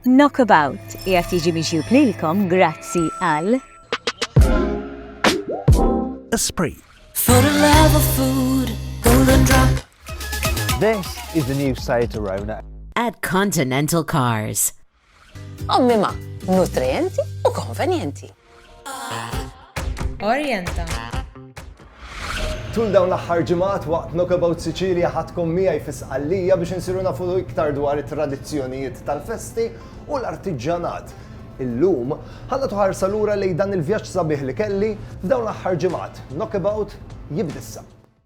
Knockabout qiegħed jiġi miġjub lilkom grazzi għal. Esprit. For the love of food, golden drop. This is the new Seat Arona. At Continental Cars. Ommima, nutrienti u konvenjenti. Orjenta. Tul dawn l-aħħar ġimgħat waqt Knockabout Sicilia ħadkom miegħi fi Sqallija biex insiru nafu iktar dwar it-tradizzjonijiet tal-festi u l-artiġġanat. Illum, ħalla tuħarsa lura lejn dan il-vjaġġ sabiħ li kelli f'dawn l-aħħar ġimgħat. Knockabout jibdissa.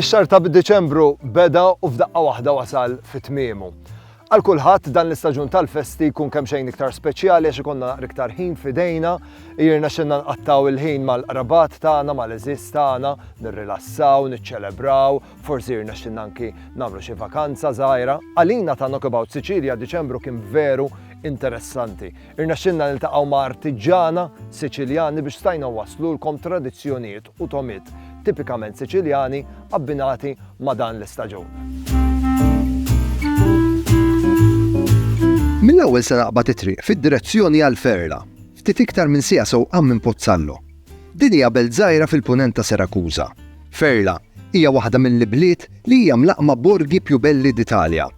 Ix-xahar ta' Diċembru beda u f'daqqa waħda wasal fi tmiemu. Għal kulħadd dan l-istaġun tal-festi jkun kemm xejn iktar speċjali għax ikonna naqra iktar ħin fidejna, jirna xinna nqattaw il-ħin mal-qrabat tagħna, mal-eżiż tagħna, nirrilassaw, niċċelebraw, forsi jirna xinna anki nagħmlu xi vakanza żgħira. Għalina ta' Knockabout Sicilia Diċembru kien veru interessanti. Irnexxielna niltaqgħu ma' artiġġana Siċiljani biex stajna nwasslulkom tradizzjonijiet u togħmiet tipikament Siċiljani abbinati ma' dan l-istaġun. Mill-ewwel se naqbad it-triq fid-direzzjoni għal Ferla, ftit iktar minn siegħa sewqan minn Pozzallo. Din hija belt żgħira fil-punent ta' Serakuża. Ferla hija waħda mill-ibliet li hija mlaqqma borgi più belli d'Italia.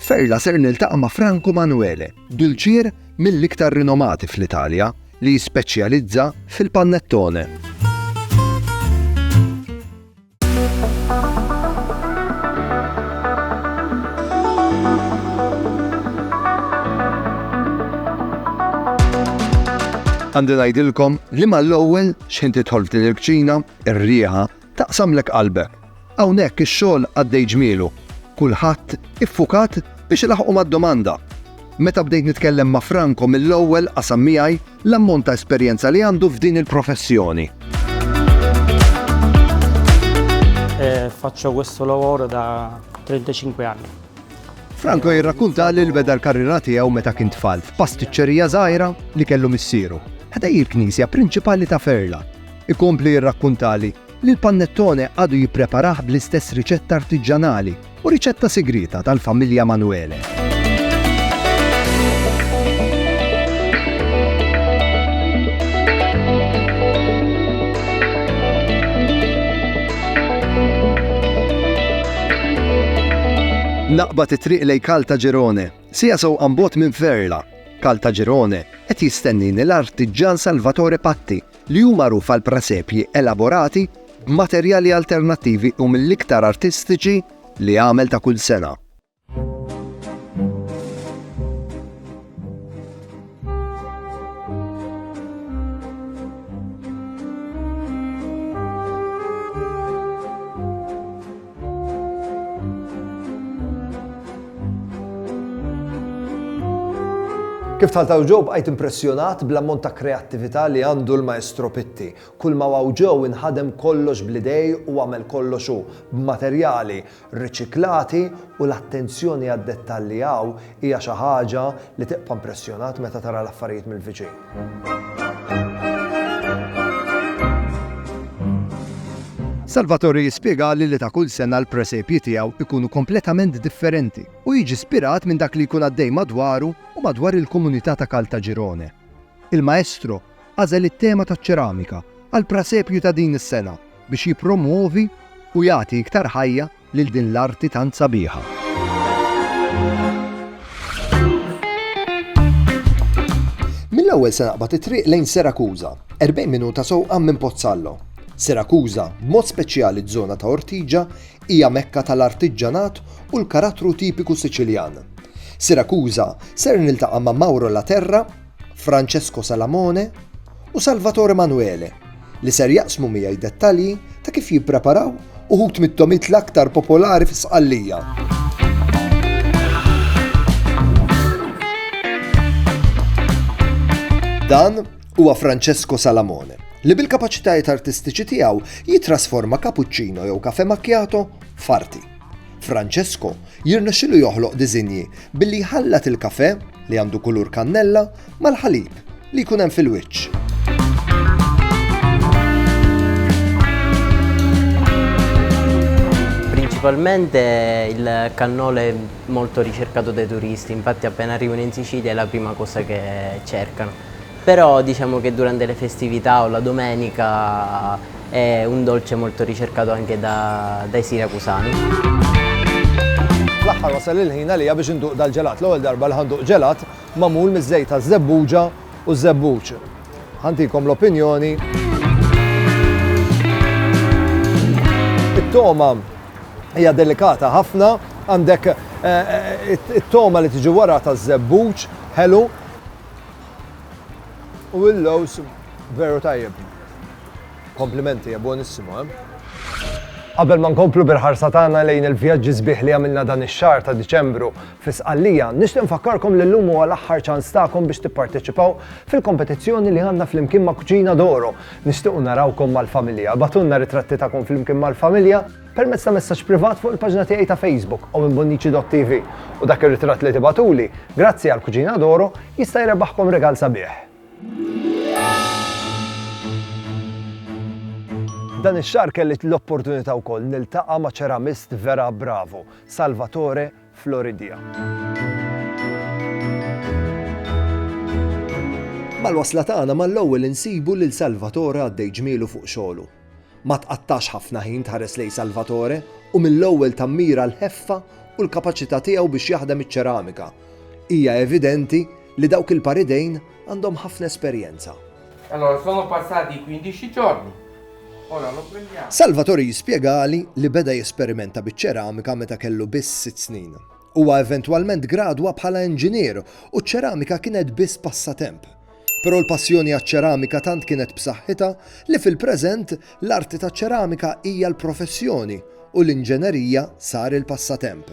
Ferla ser niltaqa' ma' Franco Manuele, dulċier mill-iktar rinomati fl-Italja li jispeċjalizza fil-panettone. Għandi ngħidilkom li mal-ewwel xħin tidħol f'din il-kċina, ir-riħa taqsamlek qalbek. Hawnhekk ix-xogħol għaddej ġmielu, kulħadd iffukat biex ilaħħqu mad-domanda. Meta bdejt nitkellem ma' Franco mill-ewwel qasam miegħi l-ammont ta' esperjenza li għandu f'din il-professjoni. Faccio questo lavoro da 35 anni. Franco jirrakkunta li l-beda l-karriera tiegħu meta kien tfal f'pastiċċerija żgħira li kellu missieru, ħdej il-knisja prinċipali ta' Ferla. Ikompli jirrakkuntali li l-pannettone għadu jippreparah bl-istess riċetta artiġġanali u riċetta sigrieta tal-familja Manuele. Naqbad it-triq lej Caltagirone, siegħa sewqa mbogħod minn Ferla. Caltagirone qed jistennini l-artiġġan Salvatore Patti li hu magħruf għal presepji elaborati b'materjali alternattivi u mill-iktar artistiċi li għamel ta' kull sena. Kif tħaltaw ġew bqajt impressjonat bl-ammont ta' kreattività li għandu l-Maestro Pitti. Kull ma waw ġew inħadem kollox bl-idej u għamel kollox hu, b'materjali riċiklati u l-attenzjoni għad-dettalji hawn hija xi ħaġa li tibqa' impressjonat meta tara l-affarijiet mill-viċin. Salvatore jispjegali li ta' kull sena l-presepji tiegħu jkunu kompletament differenti u jiġi spirat minn dak li jkun għaddej madwaru u madwar il-komunità ta' Caltagirone. Il-Maestro għażel it-tema taċ-ċeramika għall-prasepju ta' din is-sena biex jippromwovi u jagħti iktar ħajja lil din l-arti tant sabiħa. Mill-ewwel se naqbad it-triq lejn Serakuża, 40 minuta sewqan minn Pozzallo. Serakuża, b'mod speċjali ż-żona ta' Ortiġa, hija mekka tal-artiġġanat u l-karattru tipiku Siċiljan. Sirakuża ser niltaqa' ma' Mauro Laterra, Francesco Salamone u Salvatore Manuele li ser jaqsmu miegħi dettalji ta' kif jippreparaw uħud mit-tomit l-aktar popolari fi Sqallija. Dan huwa Francesco Salamone, li bil-kapaċitajiet artistiċi tiegħu jitrasforma cappuccino jew kafe macchiato f'arti. Francesco jirnexxilu joħloq diżinji billi jħallat il-kafè li għandu kulur kannella mal-ħalib li jkun hemm fil-wiċċ. Principalmente il cannolo è molto ricercato dai turisti, infatti appena arrivano in Sicilia è la prima cosa che cercano. Però diciamo che durante le festività o la domenica è un dolce molto ricercato anche da dai siracusani. Fl-aħħar wasal il-ħin għalija biex induq dal-ġelat. L-ewwel darba li ħa nduq ġelat magħmul miż-żejt taż-żebbuġa u ż-żebbuġ. Ħa ntikom l-opinjoni. It-togħma hija delikata ħafna, għandek eh, eh, it-togħma li tiġi wara taż-żebbuġ, ħelu, U il-lowz veru tajjeb. Komplimenti, hija buonissimo, eh? Qabel ma nkomplu bil-ħarsa tagħna lejn il-vjaġġi sbieħ li għamilna dan ix-xahar ta' Diċembru fi Sqallija, nixtieq nfakkarkom li llum huwa l-aħħar ċans tagħkom biex tipparteċipaw fil-kompetizzjoni li għandna flimkien ma' Cucina d'Oro. Nixtiequ narawkom mal-familja. Ibgħatulna ritratti tagħkom flimkien mal-familja. permezz ta' messaġġ privat fuq il-paġna tiegħi ta' Facebook u minn Bonnici.tv u dak ir-ritratt li tibagħtuli, grazzi għal Cucina d'Oro, jista' jrebbaħkom regal sabiħ. Dan ix-xahar kelli l-opportunità wkoll niltaqa' ma' ċeramist vera bravu, Salvatore Floridia. Mal-wasla tagħna mal-ewwel insibu lil Salvatore għaddej ġmielu fuq xogħlu. Ma tqattax ħafna ħin tħares lejn Salvatore u mill-ewwel tammira l-ħeffa u l-kapaċità tiegħu biex jaħdem iċ-ċeramika. Hija evidenti li dawk il-par idejn għandhom ħafna esperjenza. Allora, sono passati quindici giorni. Ora lo prendiamo. Salvatore jispjegali li beda jesperimenta biċ-ċeramika meta kellu biss sitt snin. Huwa eventwalment gradwa bħala inġinier u ċ-ċeramika kienet biss passatemp. Però l-passjoni għaċ-ċeramika tant kienet b'saħħitha li fil-preżent l-arti taċ-ċeramika hija l-professjoni u l-inġenerija sar il-passatemp.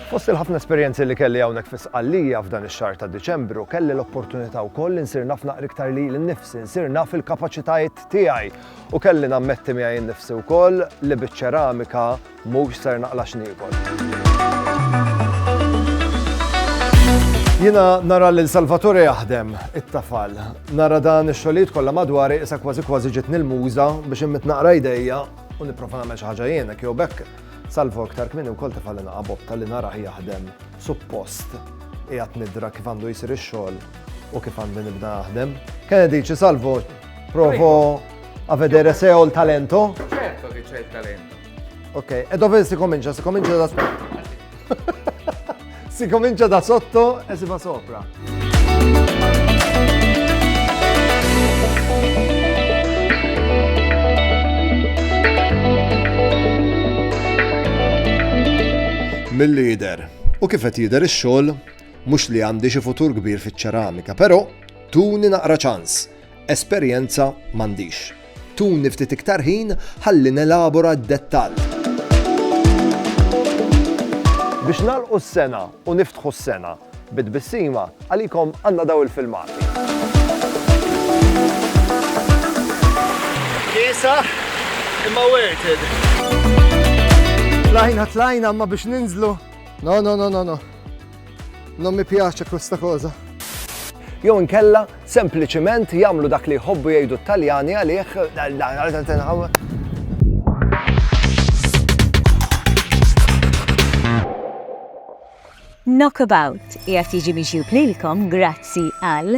Fost il-ħafna esperjenzi li kelli hawnhekk fi Sqallija f'dan ix-xahar ta' Diċembru, kelli l-opportunità wkoll li nsir naf naqra iktar lili nnifsi, nsir naf il-kapaċitajiet tiegħi u kelli nammetti miegħi nnifsi wkoll li biċ-ċeramika mhux ser naqla' x'niekol. Jiena nara lil Salvatore jaħdem it-tafal. Nara dan ix-xogħlijiet kollha madwari issa kważi kważi ġietni l-muża biex inmitt naqra jdejja u nipprova nagħmel xi ħaġa jiena jew b'hekk Salvo iktar kmieni wkoll tefgħalli naqa' botta li narah jaħdem suppost qiegħed nidra kif għandu jsir ix-xogħol u kif għandi nibda naħdem. Kien dici Salvo provo a vedere se ho il talento. Certo che c'è il talento. Ok, e dove si comincia? Si comincia da Si comincia da sotto e si va sopra. Mill-lider. U kif qed jidher ix-xogħol mhux li għandi xi futur kbir fiċ-ċeramika, però tuni naqra ċans. Esperjenza m'għandix. Tuni ftit iktar ħin ħalli nelabora d-dettall. Biex nagħlqu s-sena u niftħu s-sena bi tbissima, għalikom għandna dawn il-filmati. Kiesaħ imma worth it. Tlajna, tlajna, imma biex ninżlu. No, no, no, no, no. Non mi piace questa cosa. Jew inkella sempliċiment jagħmlu dak li jħobbu jgħidu t-Taljani għalih Knockabout jgħat jiġi miġjub lilkom grazzi għal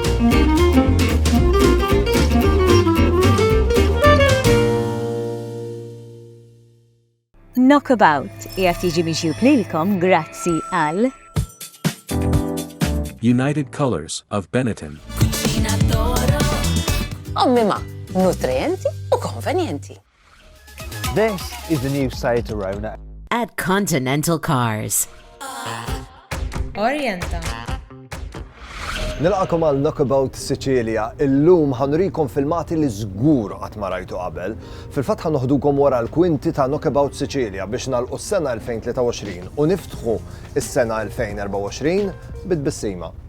Knockabout qiegħed jiġi mixjub lilkom grazzi għal United Colors of Benetton. Ommi ma, nutrienti u konvenjenti. This is the new Seat Arona. At Continental Cars. Orienta. Nilqakom għal Knockabout Sicilia, illum ħanurikom filmati li żgur qatt ma rajtu qabel. Fil-fatt ħanoħdukom wara l-kwinti ta' Knockabout Sicilia biex nalqu s-sena 2023 u niftħu s-sena 2024 bit-bissima.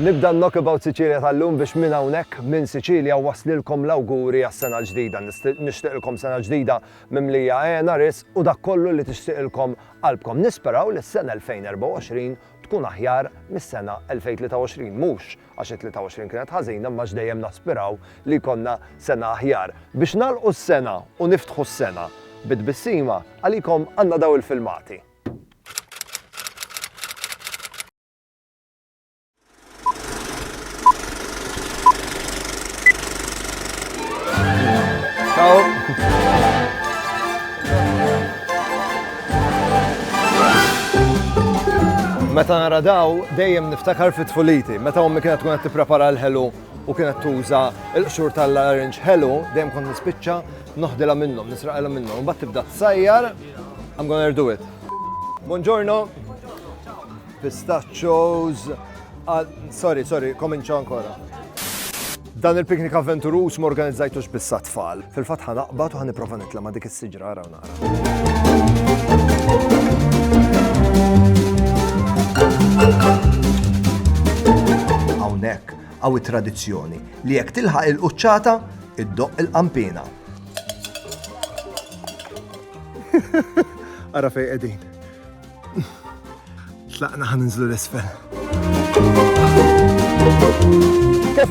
Nibda n-Knock About Sicilia tal-lum biex minn hawnhekk, minn Siċilja, nwaslilkom l-awguri għas-sena l-ġdida. Nixtieqilkom sena ġdida mimlija għena, ris u dak kollu li tixtieqilkom qalbkom. Nisperaw li s-sena 2024 tkun aħjar mis-sena 2023, mhux għax it-23 kienet ħażina imma x'dejjem naspiraw li jkollna sena aħjar. Biex nagħlqu s-sena u niftħu s-sena bi tbissima, għalikom għandna dawn il-filmati. Meta nara daw, dejjem niftakar fit tfuliti. Meta ommi kienet tkun qed tipprepara l-ħelu u kienet tuża l-qxur tal-larinġ ħelu, dejjem kont nispiċċa noħdilha minnhom, nisraqilha minnhom. Mbagħad tibda tsajjar, I'm gonna do it. Buongiorno. Pistachos. Ah, sorry, sorry, kominċa ancora. Dan il-piknik avventuruż m'organizzajtux biss tfal. Fil-fatt ħanaqbad u ħaniprofa nitla' ma' dik is-siġra Hawnhekk hawn it-tradizzjoni li jekk tilħaq il-quċċata iddoqq il-qampina. Ara fej qegħdin. Tlaqna ħan ninżlu l-isfel. Kif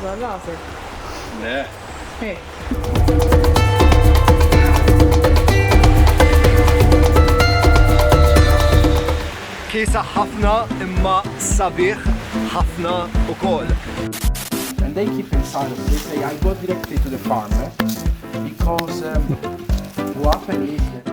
Dwar rasek. Le. Hi. Kiesaħ ħafna imma sabiħ ħafna ukoll. And they keep inside of this, they, I go directly to the farmer because um, what happened is that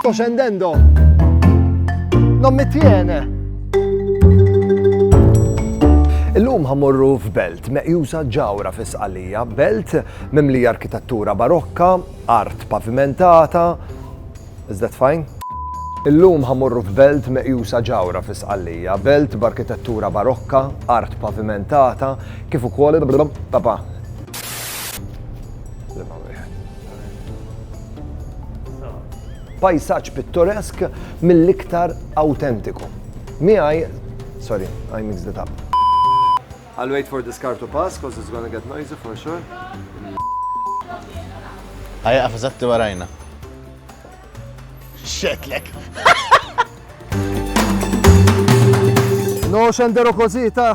Sto scendendo. Non mi tiene. Illum ħamorru f'belt meqjusa ġawra fis-Sqalija, belt mimlija arkitettura barokka, art pavimentata, is that fine? Illum ħamorru f'belt meqjusa ġawra fis-Sqalija, belt b'arkitettura barokka, art pavimentata, kif ukoll papa. Pajsaġġ pittoresk mill-iktar awtentiku. Miegħi, sorry, I mixed it up. I'll wait for this car to pass because it's gonna get noisy for sure. Għajja għafazatti warajna. Xetlek. No xendero così, ta'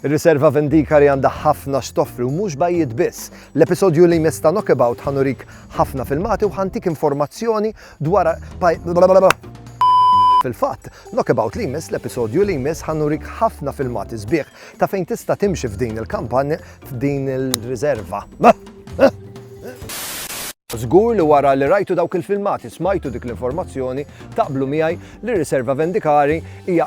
Ir-riserva Vendicare għandha ħafna x'toffri u mhux bajjiet biss. L-episodju li jmiss ta' Knockabout ħa nurik ħafna filmati u ħa ntik informazzjoni dwar Fil-fatt, Knockabout li jmiss l-episodju li jmiss ħa nurik ħafna filmati sbieħ ta' fejn tista' timxi f'din il-kampanja f'din il-riserva. Żgur li wara li rajtu dawk il-filmati smajtu dik l-informazzjoni taqblu miegħi li r-riserva Vendicare hija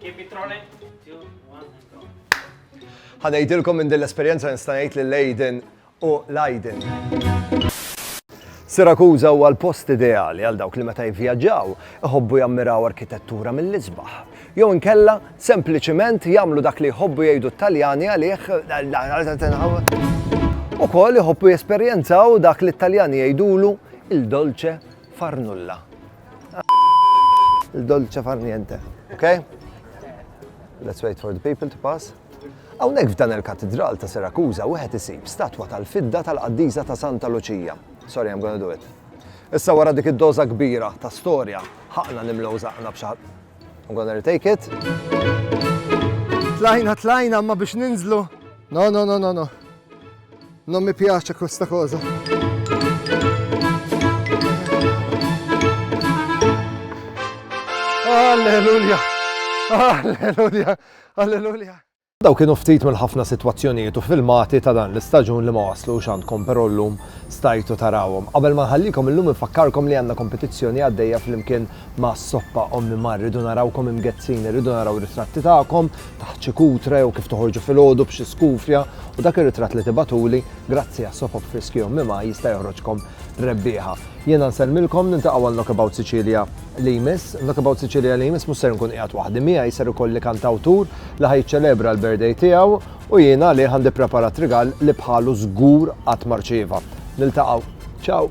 Keep it rolling. Two, one, and go. Ħanejdilkom minn din l-esperjenza nista' ngħid lil Aiden u l-Aiden. Sirakuza huwa l-post ideali għal dawk li meta jivvjaġġaw iħobbu jammiraw arkitettura mill-isbaħ. Jew inkella sempliċiment jagħmlu dak li jħobbu jgħidu t-Taljani għalih ukoll iħobbu jesperjenzaw dak li t-Taljani jgħidulu il-dolce Farnulla. Il-dolce far niente. Ok? Let's wait for the people to pass. Hawnhekk f'dan il-katidral ta' Sirakuża wieħed isib statwa tal-fidda tal-qaddiża ta' Santa Luċija. Sorry, I'm gonna do it. Issa wara dik id-doża kbira ta' storja, ħaqna nimlew zaqna b'xar. I'm gonna retake it. Tlajna, tlajna, ma biex ninżlu. No, no, no, no, no. Non mi piace questa cosa. Alleluja! Alleluja! Alleluja! Daw kienu ftit mill-ħafna sitwazzjonijiet u filmati ta' dan l-istaġun li ma waslux għandkom però llum stajtu tarawhom. Qabel ma nħallikom illum infakkarkom li għandna kompetizzjoni għaddejja flimkien ma' soppa Ommi Mar, rridu narawkom imgezzin, irridu naraw ritratti tagħkom taħt xi kutra jew kif toħorġu filgħodu b'xi skufja u dak ir-ritratt li tibagħtuli, grazzi għas-sopop friski Ommi Mar jista' joħroġkom rebbieħa. Jiena nsellmilkom, niltaqgħu għal Knockabout Sicilia li jmiss. Knockabout Sicilia li jmiss mhux ser inkun qiegħed waħdi, miegħi ser ikolli kantawtur li ħa jiċċelebra l-birthday tiegħu u jien għalih għandi ppreparat rigal li bħalu żgur qatt ma rċieva. Niltaqgħu. Ciao!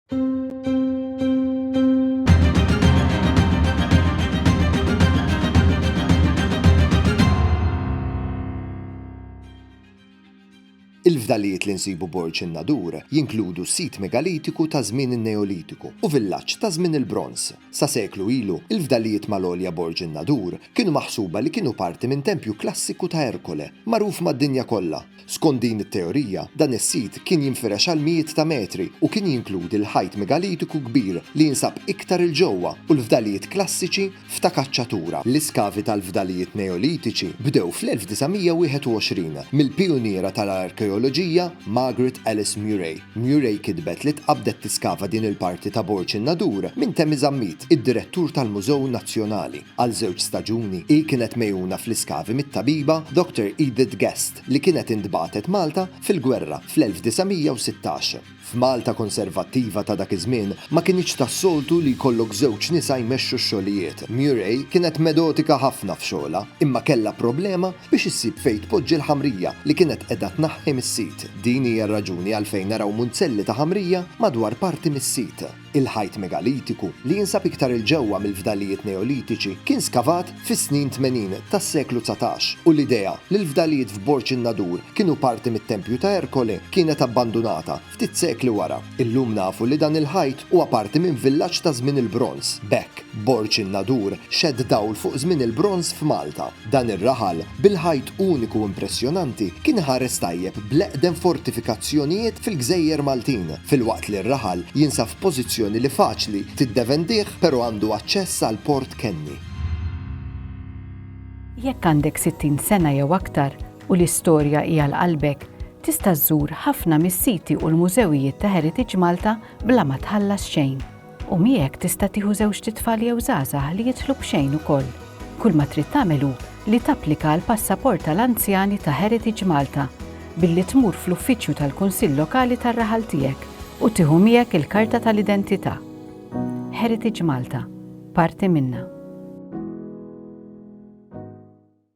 Il-fdalijiet li nsibu Borg in-Nadur jinkludu sit megalitiku ta' żmien in-Neolitiku u villaġġ ta' żmien il-Bronż. Sa seklu ilu, il-fdalijiet mal-għolja Borg in-Nadur kienu maħsuba li kienu parti minn tempju klassiku ta' Erkole, magħruf mad-dinja kollha. Skont din it-teorija, dan is-sit kien jinfirex għal mijiet ta' metri u kien jinkludi l-ħajt megalitiku kbir li jinsab iktar 'il ġewwa u l-fdalijiet klassiċi f'Ta' Kaċċatura. L-iskavi tal-fdalijiet Neolitiċi bdew fl-1921 mill-pijuniera tal-arkeoloġija Margaret Alice Murray. Murray kitbet li tqabbdet tiskava din il-parti ta' Borg in-Nadur minn Temi Zammit, id-direttur tal-Mużew Nazzjonali. Għal żewġ staġuni, hi kienet megħuna fl-iskavi mit-tabiba Dr. Edith Guest, li kienet intbagħtet Malta fil-gwerra fl-1916. F'Malta konservattiva ta' dak iż-żmien, ma kinitx tas-soltu li jkollok żewġ nisa jmexxu x-xogħlijiet. Murray kienet medotika ħafna f'xogħlha, imma kellha problema biex issib fejn tpoġġi l-ħamrija li kienet qiegħda tnaħħi mis-sit. Din hija r-raġuni għalfejn naraw munzelli ta' ħamrija madwar parti mis-sit. Il-ħajt megalitiku, li jinsab iktar 'il ġewwa mill-fdalijiet Neolitiċi, kien skavat fis-snin tmenin tas-seklu dsatax, u l-idea li l-fdalijiet f'Borg in-Nadur kienu parti mit-tempju ta' Ercole kienet abbandunata ftit sekli wara. Illum nafu li dan il-ħajt huwa parti minn villaġġ ta' żmien il-Bronż, b'hekk, Borg in-Nadur xedt dawl fuq żmien il-Bronż f'Malta. Dan ir-raħal, bil-ħajt uniku u impressjonanti, kien iħares tajjeb bl-eqdem fortifikazzjonijiet fil-gżejjer Maltin, filwaqt li r-raħal jinsab f'pożizzjoni li faċli tiddevendih pero għandu aċċess għal Port Kenny. Jekk għandek 60 sena jew aktar u l-istorja hi għal qalbek, tista' żżur ħafna mis-siti u l-mużewijiet ta' Heritage Malta bla ma tħallas xejn. U miegħek tista' tieħu żewġt itfal jew żgħażagħ li jidħlu b'xejn ukoll. Kull ma trid tagħmel hu li tapplika għal passaport tal-anzjani ta' Heritage Malta billi tmur fl-uffiċċju tal-Kunsill Lokali tar-raħal tiegħek u tieħu miegħek il-karta tal-identità. Heritage Malta, parti minna.